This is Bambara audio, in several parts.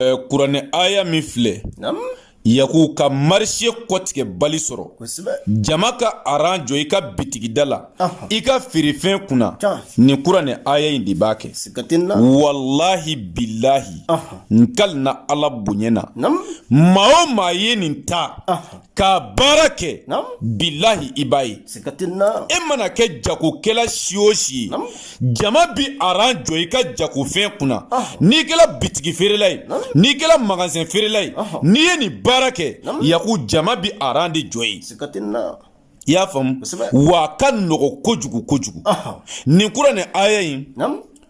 Eh, kuranɛ aya min filɛ yaku ka marché kɔtigɛ bali sɔrɔ jama ka aran jɔ i ka bitigida la i ka feerefɛn kunna nin kuranɛ aya in de b'a kɛ walahi bilahi n kalina ala bonya na maa o maa ye nin ta ka baara kɛ bilahi i b'a ye e mana kɛ jagokɛla si o si ye jama bi aran jɔ i ka jagofɛn kunna ah. n'i kɛla bitigi feerela ye n'i kɛla magasin feerela ye n'i ye nin baara kɛ yaku jama bi aran de jɔ ye i y'a faamu wa a ka nɔgɔ kojugu kojugu nin kuranɛ aya in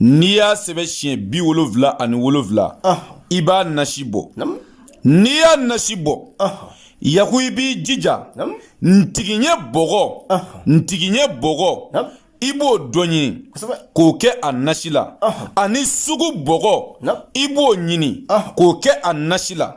n'i y'a sɛbɛn siɲɛ bi wolonfila ani wolonfila i b'a nasi bɔ n'i y'a nasi bɔ yaku i b'i jija ntigiɲɛ bɔgɔ ntigiɲɛ bɔgɔ i b'o dɔ ɲini k'o kɛ a nasi la ani sugu bɔgɔ i b'o ɲini k'o kɛ a nasi la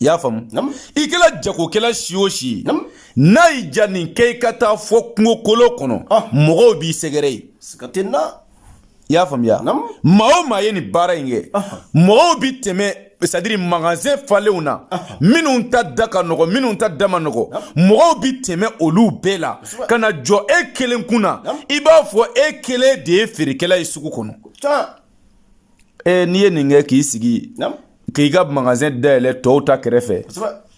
i y'a faamu i kɛla jagokɛla si o si ye n'a y'i ja nin kɛ i ka taa fɔ kungokolo kɔnɔ ah. mɔgɔw b'i sɛgɛrɛ ye i y'a faamuya maa o maa ye nin baara in kɛ ah. mɔgɔw bi tɛmɛ c'est-à-dire magasin falenw na ah. minnu ta da ka nɔgɔ minnu ta da ma nɔgɔ mɔgɔw bi tɛmɛ olu bɛɛ la ka na jɔ e kelen kunna i b'a fɔ e kelen de ye feerekɛla ye sugu kɔnɔ n'i ye nin kɛ k'i sigi k'i ka magasin dayɛlɛ tɔw ta kɛrɛfɛ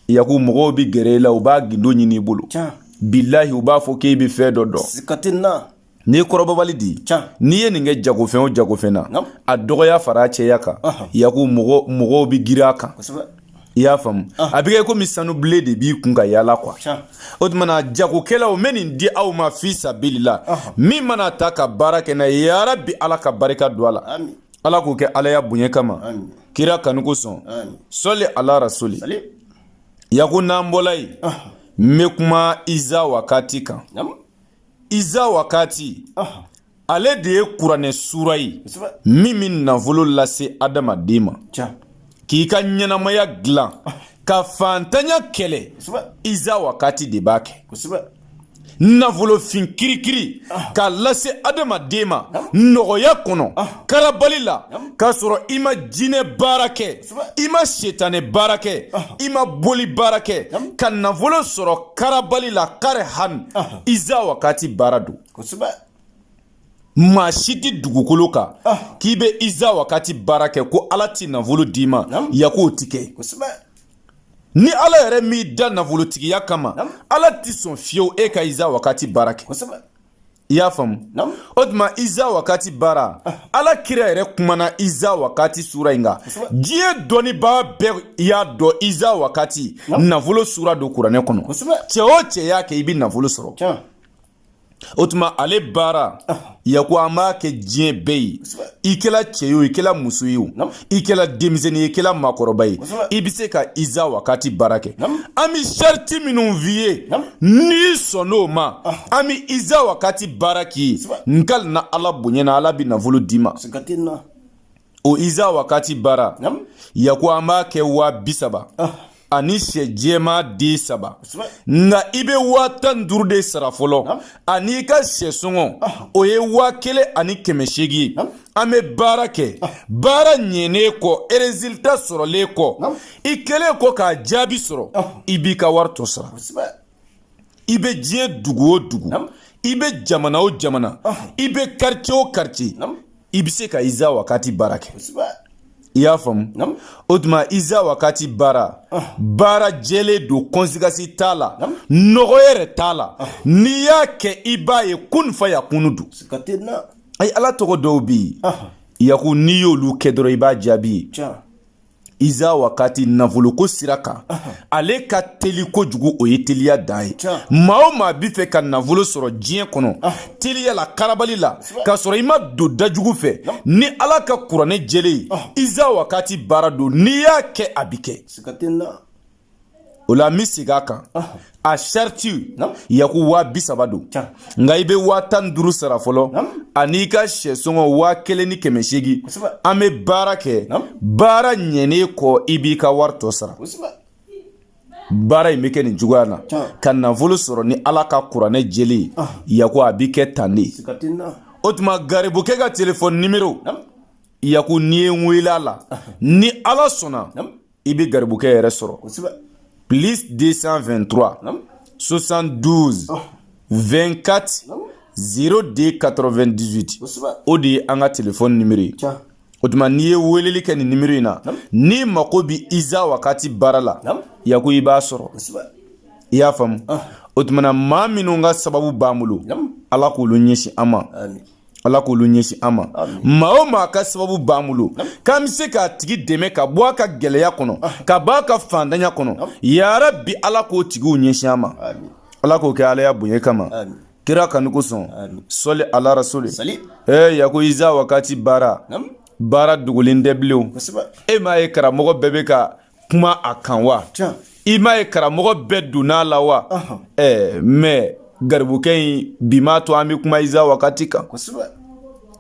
yaku mɔgɔw bɛ gɛrɛ i la u b'a gindo ɲini i bolo bilahi u b'a fɔ k'e bɛ fɛn dɔ dɔn n'i ye kɔrɔbɔbali di n'i ye nin kɛ jagofɛn o jagofɛn na a dɔgɔya fara cɛya kan yaku mɔgɔw bɛ girin a kan i y'a faamu a bɛ kɛ komi sanubilen de b'i kun ka yaala quoi o tumana jagokɛlaw n bɛ nin di aw ma fi sabilila min man'a ta ka baara kɛ n'a ye yarabi ala ka barika don a la Ala k'o kɛ alaya bonya kama kira kanu kosɔn sɔli ala rasuli yaku n'an bɔla yen n bɛ kuma iza wakati kan iza wakati ale de ye kuranɛ sura ye min bɛ nafolo lase adamaden ma k'i ka ɲɛnamaya dilan ka faantanya kɛlɛ iza wakati de b'a kɛ nafolo fin kirikiri ah. k'a lase adamaden ma ah. nɔgɔya kɔnɔ ah. karabali la k'a sɔrɔ i ma jinɛ baara kɛ i ma setanɛ baara kɛ i ma boli baara kɛ ka nafolo sɔrɔ karabali la karihan iza wakati baara don maa si tɛ dugukolo kan ah. k'i bɛ iza wakati baara kɛ ko ala tɛ nafolo d'i ma yaku o tɛ kɛ ni ala yɛrɛ m'i da nafolotigiya kama ala tɛ sɔn fiyewu e ka iza wakati baara kɛ i y'a faamu o tuma iza wakati baara ah. ala kira yɛrɛ kumana iza wakati sura in kan diɲɛ dɔnnibaa bɛɛ y'a dɔn iza wakati nafolo sura don kuranɛ kɔnɔ cɛ o cɛ y'a kɛ i bɛ nafolo sɔrɔ o tuma ale baara yaku an b'a kɛ diɲɛ bɛɛ ye i kɛla cɛ ye o i kɛla muso ye o i kɛla denmisɛnnin ye i kɛla maakɔrɔba ye i bɛ se ka iza wakati baara kɛ an bɛ sariti minnu f'i ye n'i sɔnn'o ma an bɛ iza wakati baara k'i ye nkali na ala bonya na ala bɛ nafolo d'i ma o iza wakati baara yaku an b'a kɛ waa bi saba ah. ani sɛ jɛma den saba nka i bɛ waa tan ni duuru de sara fɔlɔ ani i ka sɛ sɔngɔ ah. o ye waa kelen ani kɛmɛ seegin ye an bɛ baara kɛ ah. baara ɲɛnen kɔ résultat sɔrɔlen kɔ i kɛlen kɔ k'a jaabi sɔrɔ i b'i ka wari tɔ sara i bɛ diɲɛ dugu o dugu i bɛ jamana o jamana i bɛ quartier o quartier i bɛ se ka iza wakati baara kɛ i y'a faamu o tuma iza wakati baara ah. baara jɛlen don conséquence t'a la nɔgɔ yɛrɛ t'a la ah. n'i y'a kɛ i b'a ye kun fa yakunu don ayi ala tɔgɔ dɔw bɛ yen ah. yaku n'i y'olu kɛ dɔrɔn i b'a jaabi ye iza wakati nafoloko sira kan ale ka teli kojugu o ye teliya dan ye maa o maa bi fɛ ka nafolo sɔrɔ diɲɛ kɔnɔ teliya la karabali la k'a sɔrɔ i ma don dajugu fɛ ni ala ka kuranɛ jɛlen ye iza wakati baara don n'i y'a kɛ a bi kɛ o la n bɛ segin a kan a sariti yaku waa bi saba don nka i bɛ waa tan ni duuru sara fɔlɔ an'i ka sɛ sɔngɔ waa kelen ni kɛmɛ seegin an bɛ baara kɛ baara ɲɛnen kɔ i b'i ka wari tɔ sara baara in bɛ kɛ nin cogoya na ka nafolo sɔrɔ ni ala ka kuranɛ jɛlen ye yaku a bɛ kɛ tan de o tuma garibukɛ ka telefɔni nimero yaku n'i ye n wele a la ni ala sɔnna i bɛ garibukɛ yɛrɛ sɔrɔ plus 223 72 24 02 98 o de ye an ka telefɔni nimero ye o tuma n'i ye weleli kɛ nin nimero in na n'i mako bɛ iza wakati baara la yaku i b'a sɔrɔ i y'a faamu o tuma na maa minnu ka sababu b'an bolo ala k'olu ɲɛsin an ma ala k'olu ɲɛsin an ma maa o maa ka sababu b'an bolo k'an bɛ se k'a tigi dɛmɛ ka bɔ a ka gɛlɛya kɔnɔ ah. ka bɔ a ka faantanya kɔnɔ yarabi ala k'o tigiw ɲɛsin an ma ala k'o kɛ ala ya bonya kama kira kanu kosɔn sɔli ala rasuli ee yaku iza wakati baara baara dogolen tɛ bilen e m'a ye karamɔgɔ bɛɛ bɛ ka kuma a kan wa i m'a ye karamɔgɔ bɛɛ donn'a la wa ɛɛ mɛ garibukɛ in bi m'a to an bɛ kuma iza wakati kan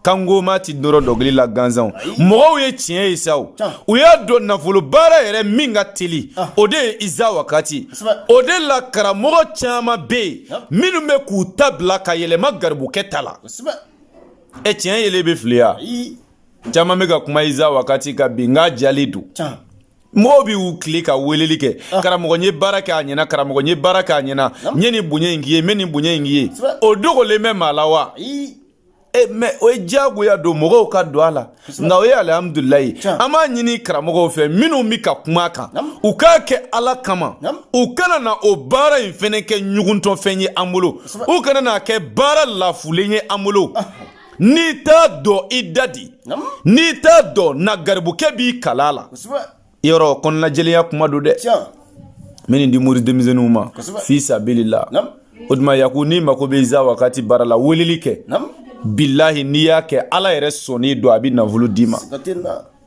kangoma ti dɔrɔ dɔnkili la gansanw mɔgɔw ye tiɲɛ ye sa o u y'a dɔn nafolo baara yɛrɛ min ka teli ah. o de ye iza wakati o de la karamɔgɔ caman bɛ yen minnu bɛ k'u ta bila ka yɛlɛma garibukɛ ta la e tiɲɛ yelen bɛ fili ya caman bɛ ka kuma iza wakati kan bi nka a jɛlen don mɔgɔw bɛ u tile ka weleli kɛ ah. karamɔgɔ n ye baara kɛ a ɲɛna karamɔgɔ n ye baara kɛ a ɲɛna n ye nin bonya in k'i ye n bɛ nin bonya in k'i ye o dogolen bɛ maa la wa e mɛ o ye diyagoya don mɔgɔw ka don a la nka o ye alihamudulilayi an b'a ɲini karamɔgɔw fɛ minnu bɛ ka kuma a kan u k'a kɛ ala kama u kana na o baara in fɛnɛ kɛ ɲuguntɔfɛn ye an bolo u kana n'a kɛ baara lafulen ye an bolo ah. n'i t'a dɔn i dade n'i t'a dɔn na garibukɛ b'i kalan a la yɔrɔ kɔnɔnajɛlenya kuma don dɛ n bɛ nin di mori denmisɛnninw ma fi sabilila o tuma yaku n'i mako bɛ iza wakati baara la weleli kɛ bilahi n'i y'a kɛ ala yɛrɛ sɔnni don a bɛ nafolo d'i ma